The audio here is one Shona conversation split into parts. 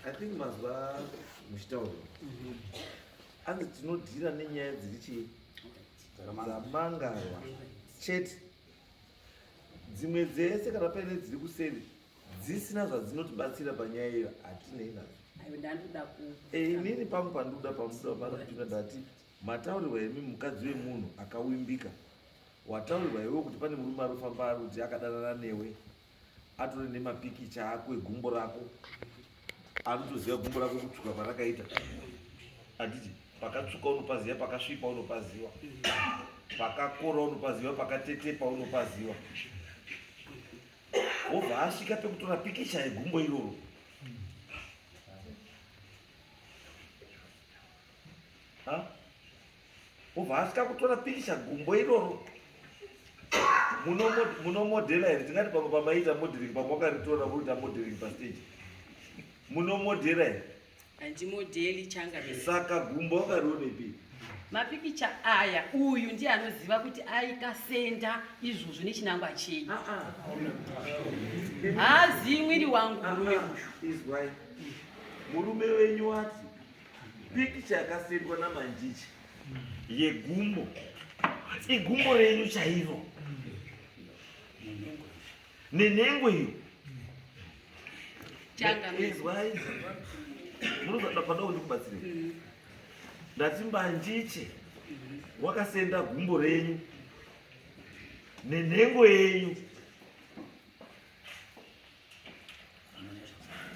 I think mazwa muchitaura mhm. anzi tinodhira nenyaya dziri chii dzamangarwa chete dzimwe dzese kana paine dziri kuseri dzisina zvadzinotibatsira panyaya iyo hatinei nadzo eh, inini pangu pandikuda pamudapandakutuka ndati mataurirwa imi mukadzi wemunhu akawimbika wataurirwa iwe kuti pane murume arofamba ari kuti akadanana newe atore nemapikicha ako egumbo rako anotoziva gumbo rako kutsvuka kwarakaita handiti pakatsvuka unopaziva pakasvipa unopaziva pakakora unopaziva pakatetepa unopaziva obva asvika pekutora pikicha yegumbo iroro ha Obva asvika kutora pikicha gumbo iroro munomodhela here tingati pamwe pamaiita modeling pamwe wakaritora voita modeling pastage munomodhela here handimodheli changa saka gumbo wakarionepi mapikicha aya uyu ndiye anoziva kuti aikasenda izvozvo nechinangwa chei ah, ah. haazivi mwiri wangu murume uyu murume wenyu wati Pikicha yakasendwa namanjichi yegumbo igumbo renyu chairo nenhengo iyo izwai munozoda pada kuti kubatsire mm. ndati mbanjiche wakasenda gumbo renyu nenhengo yenyu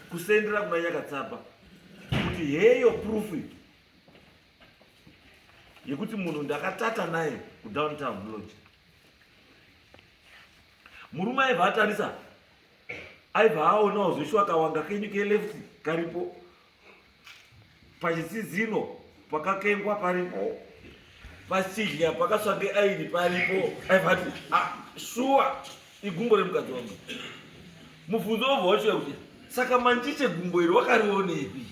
kusendera kuna nyakatsapa kuti heyo proof yekuti munhu ndakatata naye kudowntown lodge murume aibva atarisa aibva aonawo zveshuwa kawanga kenyu keleft karipo pachitsizino pakakengwa paripo pachidya pakaswa neaini paripo aivati ah, shuwa igumbo remukadzi wangu mubvunzo wobva wachiuya kuti saka manjiche gumbo iri wakarionepi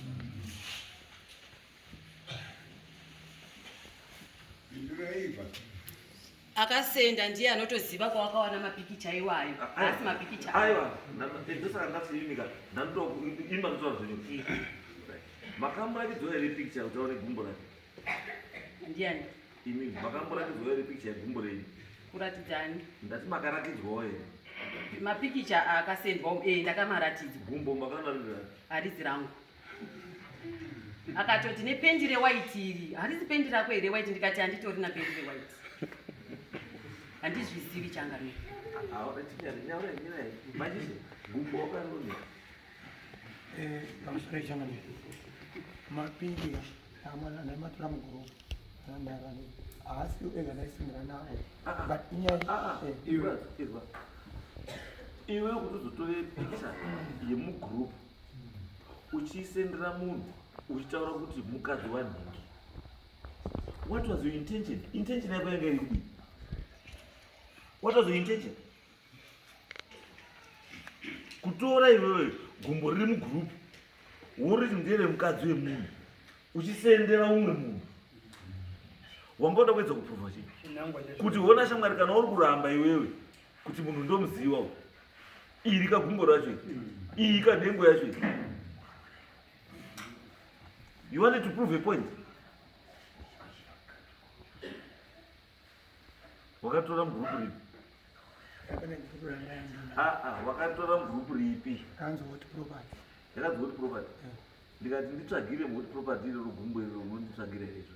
akasenda ndiye anotoziva kwawakawana mapikicha iwayo asi mapikicha aiwa ndosaka ndasiimika ndandoimba ndosva zvinhu makamborakidzwa here pikicha kuti aone gumbo rake ndiani imi makamborakidzwa here pikicha yegumbo renyu kuratidzani ndati makarakidzwawo here mapikicha akasendwa e eh, ndakamaratidzwa gumbo makanarirani harizi rangu akatoti nependi rewaiti iri harizi pendi rako here waiti ndikati handitori na pendi rewaiti handizvizivi changami pamusoro changami mapindi amwana naimatora muguru anandarani haasi ega ndaisimira nawo ah, ah. but inyaya ah, eh. iwe kutozotoe pikicha yemugroupu uchiisendera munhu uchitaura kuti mukadzi wanhingi what was your intention intention yako yanga iri kudii what was your intention kutora iwewe gumbo riri mugroup woriti ndere mukadzi wemunhu uchisendera umwe munhu wanga uda kuedza kuprova chii kuti hona shamwari kana uri kuramba iwewe kuti munhu ndomuziva u iri kagumbo racho iyi kanhengo yacho you wanted to prove a point wakatora mugrupu ripi wakatora mugrupu ripi yakanzi woti property ndikati nditsvagire moti property iroro gumbo iroro unonditsvagira izvo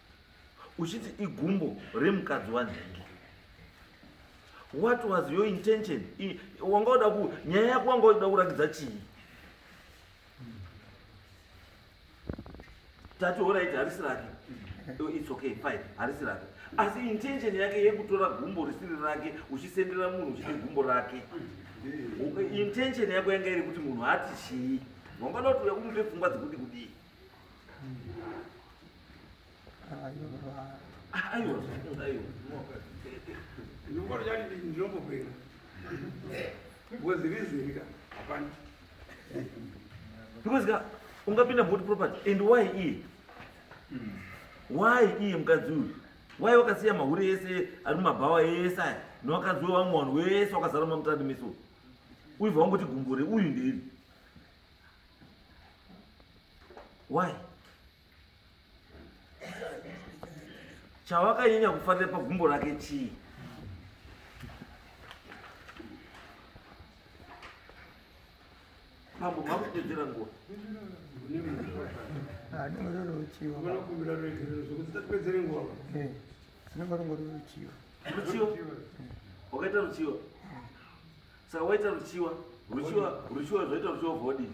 uchiti igumbo remukadzi wanhingi what was your intention wanga uda ku nyaya yako wanga uda kurakidza chii tati orit harisi rake its okay fine harisi rake asi intention yake yekutora gumbo risiri rake uchisendera munhu uchiti gumbo rake intention yako yanga iri kuti munhu ati chii wangada kuti uya kumupe pfungwa dzekuti kudii because ka ungapinda moti property and why iye why iye mukadzi uyu why wakasiya mahure ese ari mumabhawa ese aya newakadzi wevamwe vanhu wese wakazara mamutadimiso uyu vangoti gumbure uyu ndeiri Why? Chawakanyanya kufarira pagumbo rake chii? Pambo makupedzera nguva. Ruchiwa. Wakaita ruchiwa. saka waita ruchiwa ruchiwa ruchiwa zvaita ruchiwa vodi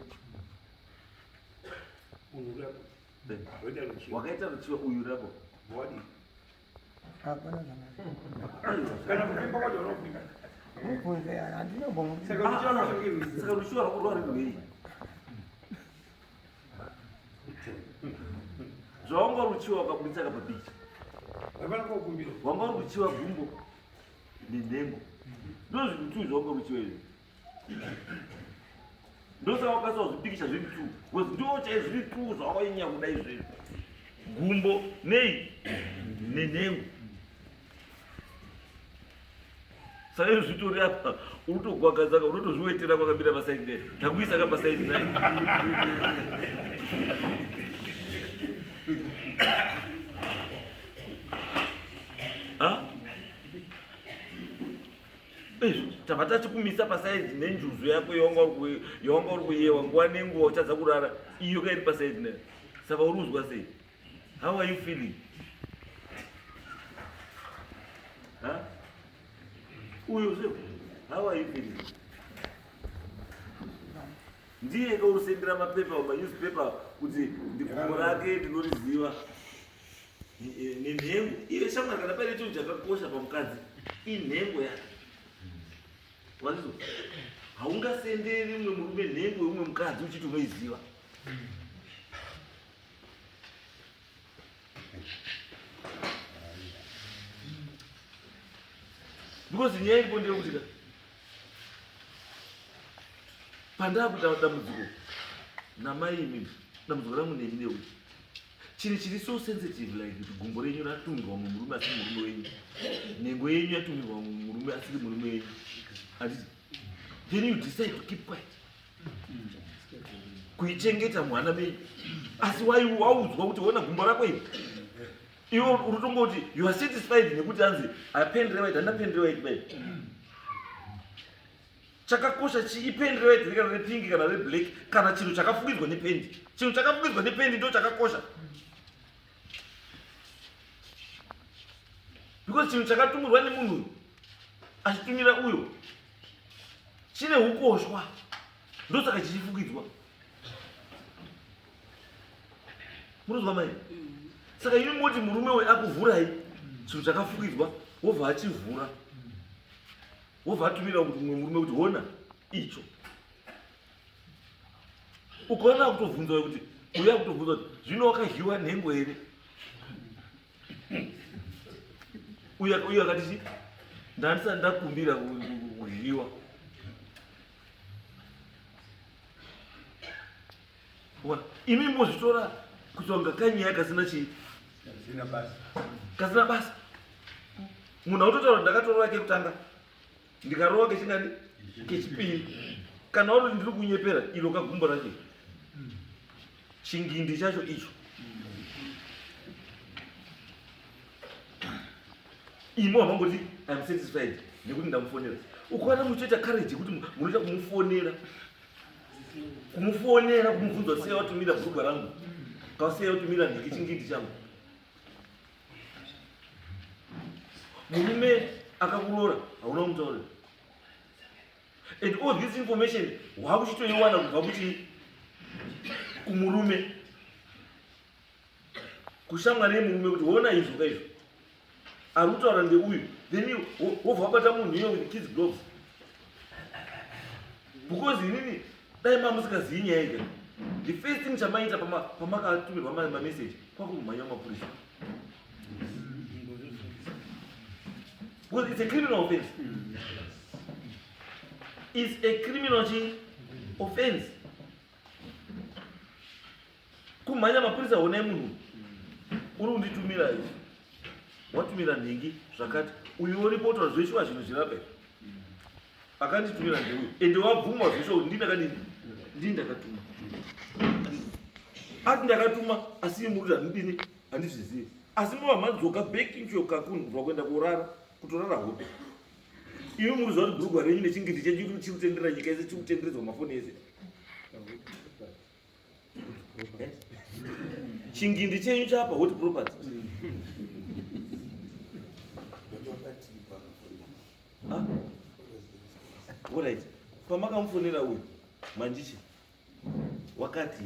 wakaita ruchiwa uyu rabo body zvaunga ruchiwa wakaburitsa kapabichi wanga uri kuchiwa gumbo nenhengo ndozvinhu two zvaunge uchiva izvi ndosaka wakasa wazvipikisha zviri two bcause ndoo chai zviri two zvawainyaya kuda izvezvi gumbo nei nenhengo saizvo zvitori apa unotogwagazaka unotozviwetera kwakamira pasaidi nei takuisa ka pasaidi nai Ah? tava tatikumisa pasaizi nenjuzu yako yawanga uri kuyewa nguva nenguva uchadza kurara iyo kairi pasaizi ne saka uri kuzwa sei how are you feeling uyo zve how are you feeling ndiye ka usendera mapepa manewspaper kuti ndikumo rake ndinoriziva nenhengo iye shamwari kana paine chinhu chakakosha pamukadzi inhengo yake waizo haungasenderi umwe murume nhengo yeumwe mukadzi uchiti unoiziva because nyaya iripo ndeyekuti ka pandaakuita dambudziko namai imimi dambudziko rangu nemi neuti chinhu chiri so sensitive like kuti gumbo renyu ratumirwa mumwe murume asiri murume wenyu nhengo yenyu yatumirwa mumwe murume asiri murume wenyu handiti then you decide to keep quiet kuichengeta mwana menyu asi waudzwa kuti ona gumbo rako iri iwe uri tongoti you are satisfied nekuti anzi apendirewa iti andapendirewa iti bai Chakakosha chii pendi rewaiti kana repingi kana reblack kana chinhu chakafukidzwa nependi chinhu chakafukidzwa nependi ndo chakakosha because chinhu chakatumurwa nemunhu uyu achitumira uyo chine ukoshwa ndosaka chichifukidzwa munonzwa mai saka ini moti murume uyu akuvhurai chinhu chakafukidzwa wobva achivhura wobva atumira kuti mumwe murume kuti hona icho ukaona kutobvunza kuti uya kutobvunza kuti zvino wakazhiwa nhengo here uyo uyo akati ndandisati ndakumbira kuzhiwa imi mozvitora kuti wanga kanyaya kasina chii kasina basa munhu autotaura ndakatorova kekutanga ndikarova kechingani kechipiri kana uri ndiri kunyepera iro kagumbo racho chingindi chacho icho imi wamangoti im satisfied nekuti ndamufonera ukaona muchitoita courage yekuti munoita kumufonera kumufonera kumubvunza sei watumira bhurugwa rangu kasei watumira ndiki chingindi changu murume akakuroora hauna kumutaurira and all this information waakuchitoiwana kubva kuti kumurume kushamwa nemurume kuti hona izvo ka izvo ari kutaura ndeuyu then wobva wabata munhu iye with kids gloves because inini dai mamusikazivi nyaya ika the first thing chamaita pamakatumirwa mameseji kwakumhanya mapurisa because it's a criminal offense it's a criminal offense kumhanya mapurisa honai munhu uri unditumira izvi watumira nhingi zvakati uyu uripo utora zveshuwa zvinhu zvirape akanditumira ndeuyu ende wabvuma zveshuwa kuti ndindakadii ndii ndakatuma ati ndakatuma asi muruti handidini handizvizivi asi mavamhanzoka bekinchokakundwa kuenda kurara kutorara hope imi muri zvauri bhurugwa renyu nechingindi chedu chiri kutendera nyika yese chiri kutenderedzwa mafoni ese chingindi chenyu chapa hoti property orit pamakamufonera uyu manjichi wakati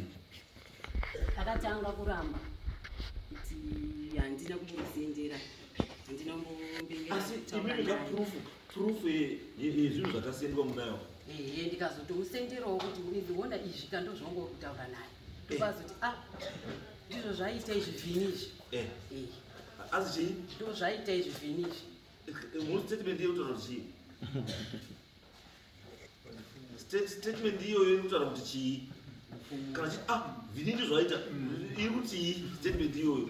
akatanga kuramba kuti handina kumboziendera handina kumbombengera proof yezvinhu zvakasendwa munayo ehe ndikazotomusenderawo kuti uiona izvi kandozvongori kutaura naye ndokazoti a ah, ndizvo zvaita izvi vhini izvi eh. eh. asi chii ndo zvaita izvi vhini izvi eh, mu statement yekutaura kuti chii statement iyoyo iri kutaura kuti chii kana chii a ah, vhini ndizvo aita mm. iri kutii statement iyoyo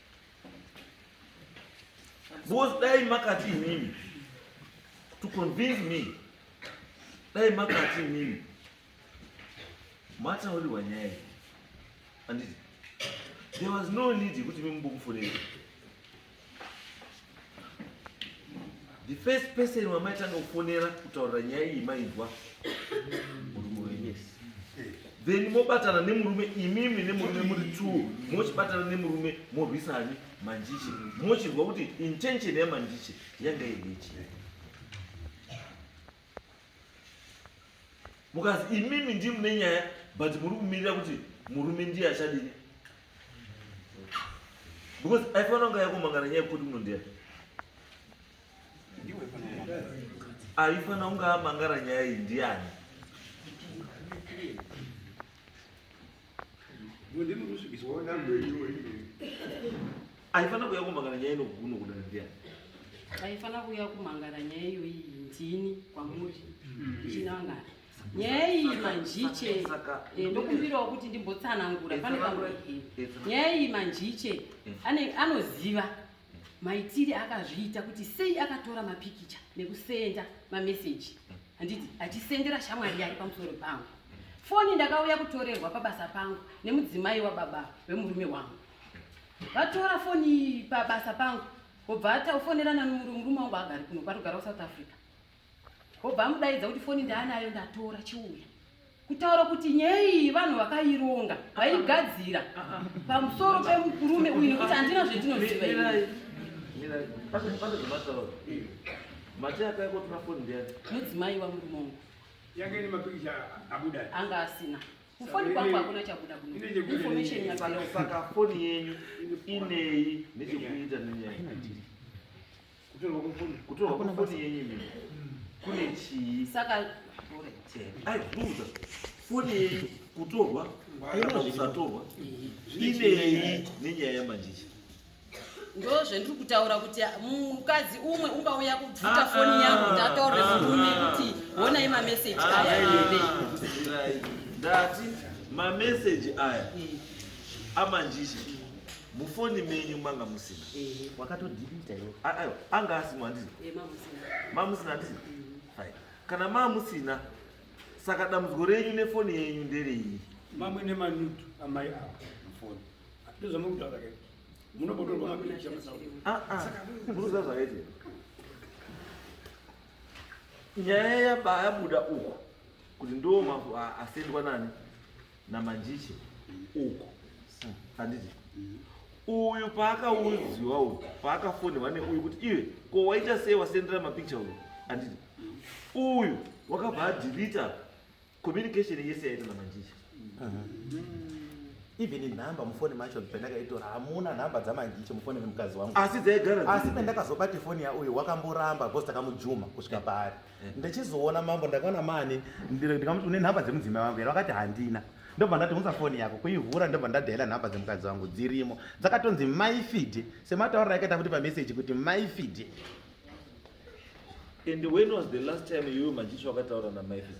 Because dai makati inini to convince me dai makati inini mataurirwa nyaya iyi anditi there was no need yekuti mimbokufonera the first person wamaitanga kufonera kutaurira nyaya iyi mainzwa murume wenyu yes then mobatana nemurume imimi nemurume muri two mochibatana nemurume morwisani manjiche mochirwa kuti intention yamanjiche yanga iri yechii mukazi imimi ndii mune nyaya but muri kumirira kuti murume ndiye achadini because aifanira kunge yakomangana nyaya yekuti munondeya aifanira kunge amangara nyaya iyi ndiani aifana kuya kumangana nyaya inoguno kudana ndiyani aifana kuya kumangana nyaya iyoyi ndini kwamuri chinangana nyaya iyi manjiche eh, ndokumbirawo kuti ndimbotsanangura pane pamwe nyaya iyi manjiche anoziva maitire akazviita kuti sei akatora mapikicha nekusenda mameseji handiti achisendera shamwari yari pamusoro pangu foni ndakauya kutorerwa pabasa pangu nemudzimai wababa vemurume wangu vatora foni pabasa pangu obva ataufonerana nomurume wangu agari kuno kwatogara kusouth africa obva amudaidza kuti foni ndaanayo ndatora chiuya kutaura kuti nyaya iyi vanhu vakaironga vaigadzira pamusoro pemurume uyu nekuti handina zvendinoziva mudzimai wamurume wangu anga asina kufoni kwangu hakuna chabuda kunoinformation yasaka foni yenyu inei nechekuita nenyaya kutorwa kwefoni yenyu mimi kune chii saka aibvunza foni yenyu kutorwa kana kusatorwa inei nenyaya yamanjicha ndo zvendiri kutaura kuti mukadzi umwe ungauya kubvuta ah, foni ah, yangu ndataurira ah, murume kuti honai mameseji aya ndati mameseji aya amanjicha mufoni menyu manga musina eh, wakatodilita iwe ah, aiwa anga asimo handizi eh, mamusina handizi mm. fine kana mamusina saka dambudziko renyu nefoni yenyu nderei mamwe nemanudu amai avo mufoni ndozvamukutaura ke munobotorwa mapicha ah, ah. munoziva zvakaite nyaya yabaya buda uku kuti ndo asendwa nani namanjiche uku handiti uyu paakauziwa uyu paakafonerwa neuyu kuti iwe ko waita sei wasendera mapicha uyu handiti uyu wakabva adhirita communication yese yaita namanjiche even nhamba mufoni macho pendakaitora hamuna nhamba dzamanjiche mufoni vemukadzi wangu asi dzaigara asi pendakazobata foni yauyu wakamboramba bcause takamujuma kusvika paari ndichizoona mambo ndakaona mani ndikamuti une nhamba dzemudzimai wangu here vakati handina ndobva ndati unza foni yako kuivhura ndobva ndadhaila nhamba dzemukadzi wangu dzirimo dzakatonzi maifidi semataurira akaita kuti pameseji kuti maifidi and when was the last time you majiswa wakataura namaifidi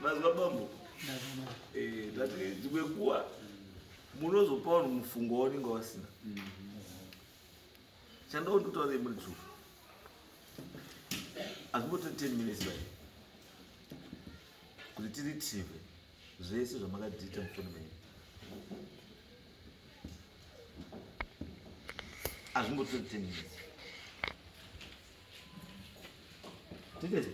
Mazwa bambo. Eh, tati dzimwe kuwa munozopa vanhu mufungo waunenge wasina. Chandawo ndotaura imwe true. Azvimbote 10 minutes bai. Kuti tiri TV zvese zvamakadiita mufoni menyu. Azvimbote 10 minutes. Tete,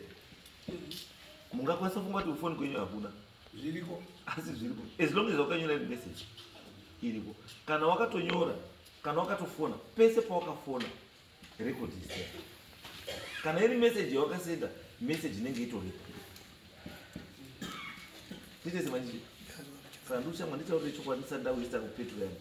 mungakwanisa funga kuti kufoni kwenyu hakuna zviriko, asi zviriko as long as wakanyora iri message iriko. Kana wakatonyora, kana wakatofona, pese pawakafona record is there. Kana iri message yawakasenda, message inenge itoripo. Tete, manje kana ndoshamwa nditaurire chokwadi ndisati ndawisa kupetro yangu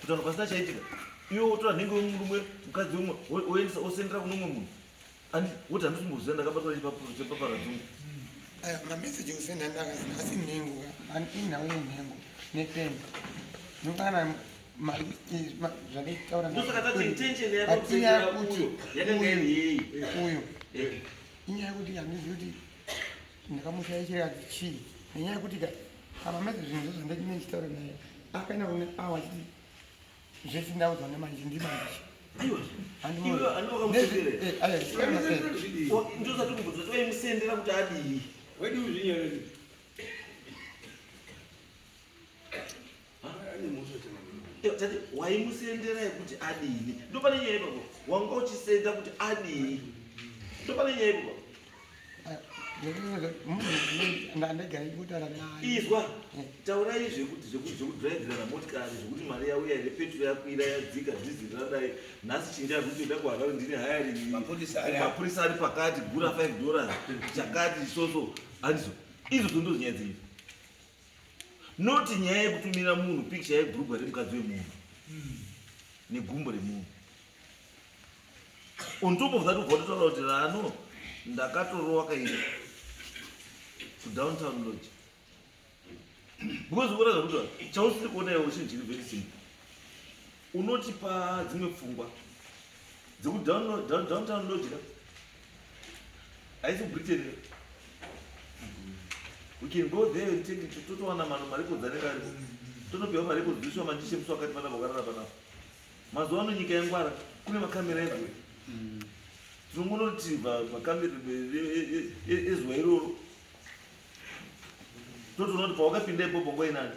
kutaura pasina chaitika iwe wotora nhengo yomurume mukadzi umwe oendesa osendera kune umwe munhu woti handisi kumboziva ndakabatwa chepaparadzungu aya mamessage osenda ndakazina asi nhengo inhau yenhengo nepeni nokana zvakaitaurandaatiyakuuyo inyaya yekuti handizivi kuti ndakamushaishira chii nenyaya yekuti apa mese zvinhu zvozvo ndachine ndichitaura naye akaenda kune awa chii zvese ndaudza nemanje ndimanje ndozatikumbudzaaimusendera kuti adii tati waimusendera yekuti adini ndopane nyaya ipapo wanga uchisenda kuti adini ndopane nyaya ipapo izwa eh. taurai zvekuti zvekudhiraivhirana motikari zvekuti mari yauya here petro yakwira yadzika dhiziri radai nhasi chinja zvekuti ida kuharare ndini hayarimapurisa ari pakati gura 5 dollars chakati soso handizo izvo zondozonyaya dzii not nyaya yekutumira munhu picture yebrugwa remukadzi wemunhu hmm. negumbo remunhu on top of that ubva totaura kuti rano ndakatorowa kairi kudowntown lodge because ukona zvakuti chausiri kuona iwe chinhu chiri very simple unotipa dzimwe pfungwa dzekudowntown lodgera haisi britain we can go there and take it totowana mano marekodzi anenge ariko tonopiwa marekodzi toiswa mandishe musi wakati panapa ukarara panapa mazuva ano nyika yangwara kune makamera ezuva tinongonoti makamera ezuva iroro totoona kuti pawakapinda ipopo ngoinani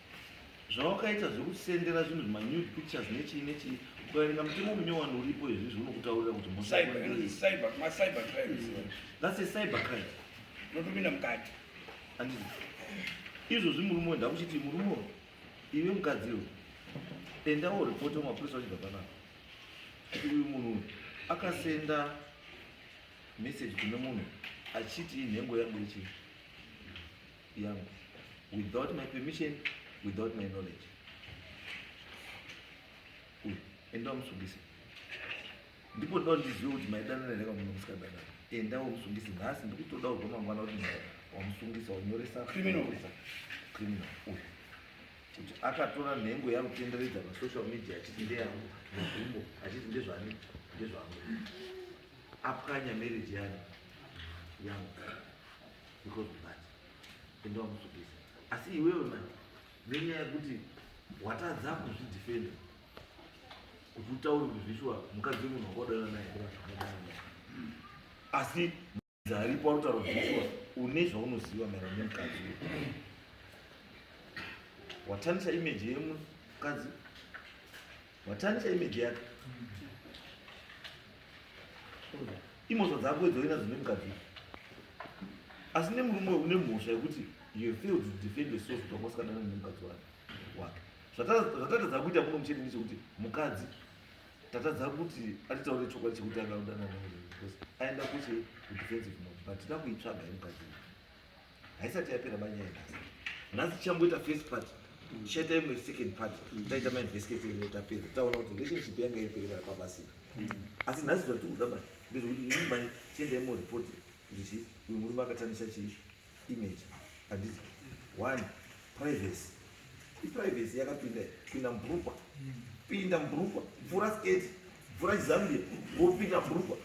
zvawakaita zvekusendera zvinhu zvimanude pictures nechii nechii ukaverenga mutemo munyowani uripo izvizvi unokutaurira kuti mosaacybercrime notopinda mukati andii izvozvi murume uyo ndakuchiti murume uyo ive mukadzi uyo endawo ripoti wemapurisa wachibva panapa kuti uyu munhu uyu akasenda message kune munhu achiti inhengo yangu yechii yangu without my permission without my knowledge uyu enda umusungise ndipo ndoda ndizive kuti maidanana here kamunhu musikadanana enda umusungise nhasi ndikutoda kubva mangwana kuti wamusungisa wanyoresa criminal criminal uyu kuti akatora nhengo yakutenderedza pasocial media achiti ndeyangu mugumbo achiti ndezvani ndezvangu apwanya marriage yani yangu because of that enda wamusvipisa asi iwewe mani nenyaya yekuti watadza kuzvidefenda kuti utaure kuti zvishuwa mukadzi wemunhu wakaudana naye asi aripo arutaura kuti zvishuwa une zvaunoziva maerano nemukadzi watanisa imeji yemukadzi Watarisa image yake. Imhosva dzako idzo uinadzo nemukadzi. Asi nemurume uyu une mhosva yekuti you fail to defend yourself kuti wanga usikadana nemukadzi wake. Zvatatadza kuita kuno muchete ndechekuti mukadzi tatadza kuti atitaure chokwadi chekuti anga udana naye because aenda kuche kudefensive mode but tida kuitsvaga yemukadzi. haisati yapera banyaya nhasi nhasi tichamboita first part tichaita imwe second part taita mainvestigation imwe tapedza taona kuti relationship yanga iriperera kwabasika asi nhasi zvatiri kuda bani ndezvekuti ini mani tiendai moreport kuti uyu murume akatamisa chii image handiti one privacy iprivacy yakapinda pinda mbrukwa pinda mbrukwa mvura sketi mvura chizambia wopinda mbrukwa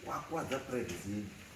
kwakwadza privacy yenyu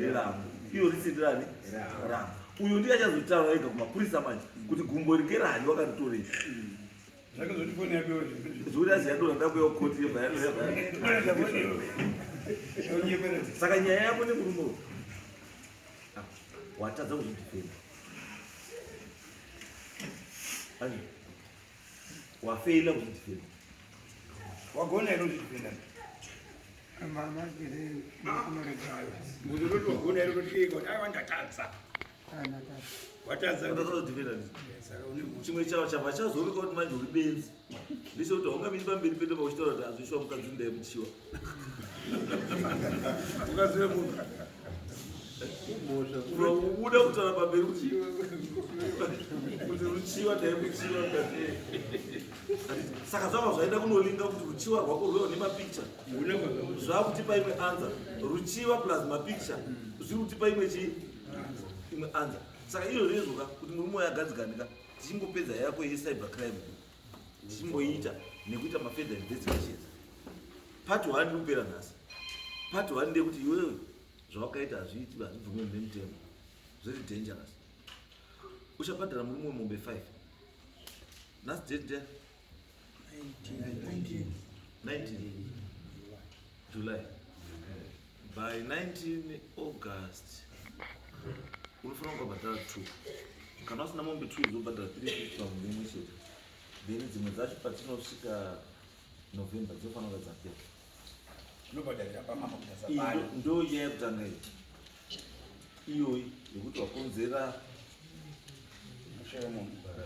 rerambo iyo risi ndirani rambo uyo ndiye achazotaura ega kumapurisa manje kuti gumbo rike rani wakaritorei zvekuti aziyadora ndakuya kukoti saka nyaya yako nemurume uyu ah, watadza kuzvidifenda wafeila kuzvidifenda wagona ino zvidifenda chimwe chavo chava chazooneka kuti manje uri benzi ndicho kuti haungamiri pamberi pedo pauchitaura kuti hazvishuwa mukadzi ndaimuchiwa ukazive munhu unokubuda kutara pamberi kuti ruchiva dai muchiva saka zvava zvaenda kunolinga kuti ruchiva rwako rweo nemapicha zvava kutipa imwe anza ruchiva plus mapicha zviri kutipa imwe chii imwe anza saka iyo zvezvoka kuti muri moyo agadzikanika tichingopedza yako yecyber crime ndichimboiita nekuita mafeather investigations part one iri kupera nhasi part one ndeyekuti iwewe zvawakaita hazviiti hazvibvume mune mutemo zviri dangerous uchabhadhara murume wemombe five nhasi date ndia 19 july by 19 august unofanira kukabhadhara two kana usina mombe two zobhadhara three fifty pamombe imwe chete then dzimwe dzacho patinosvika november dzinofanira kuva dzapera ndo iya yekutanga iyi iyoyi yekuti wakonzera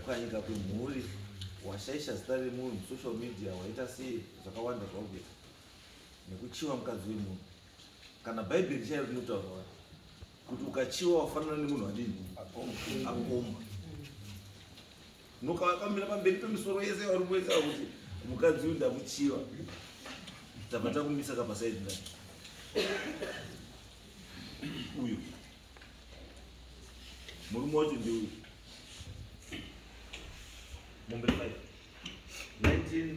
ukanyika kwemhuri washaisha zita remunhu social media waita sei zvakawanda zvakuita nekuchiva mukadzi wemunhu kana bhaibheri chairo rinotaurwa kuti ukachiva wafanana nemunhu adini akomba nokavakamira pamberi pemisoro yese vari kuesa kuti mukadzi uyu ndamuchiva tava takumisa kapasaidi ndai uyu murume wacho ndeuyu mombe 5 19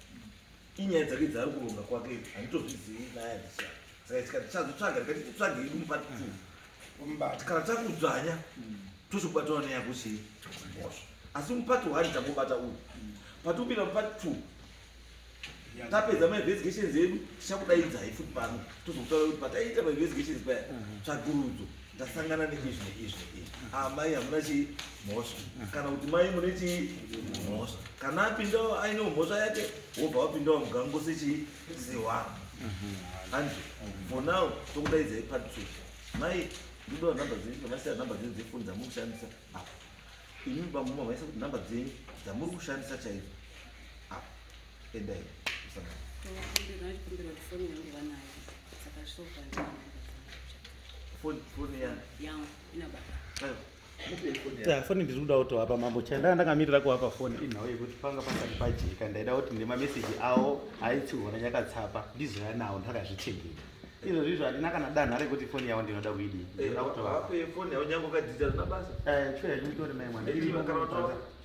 inyaya dzake dzaari kuronga kwake handitozvizivi nyaya dzisa saka tika tichazotsvaga tikati titsvage yedu mupati tu kumbati kana takudzvanya tozobatana neyako sei mhosva asi mupati one tangobata uyu patopinda mupati two tapedza mainvestigations edu tichakudaidzai futi pano tozokutaura kuti pataiita mainvestigations paya tsvagurudzo ndasangana neizvi neizvi neizvi ah, mai hamuna chii mhosva kana kuti mai mune chii mhosva kana apindawo aine mhosva yake wobva wapindawo mugango sechii sewako handi for now tokudaidzai part two mai ndidoa number dzenyu ndovasiya number dzenyu dzefoni dzamuri kushandisa apa imi bamuma vaisa kuti number dzenyu dzamuri kushandisa chaizo apa endai usangana Ndinokumbira kuti foni yangu vanayo saka zvisokuva ndinokumbira kuti foni yangu vanayo. foni ndiri kuda kutovapa mambo chai ndanga ndakamirira kuvapa foni inhau yekuti panga pasati pajeka ndaida kuti nemameseji avo aitsiona yakatsapa ndizouya nawo ndakazvitengera izvo zvizvo handina kana danha rekuti foni yavo ndinoda kuidii ndinoda kutovapa foni yavo nyange ukadzidzira zvina basa chifeya chimitori mai mwana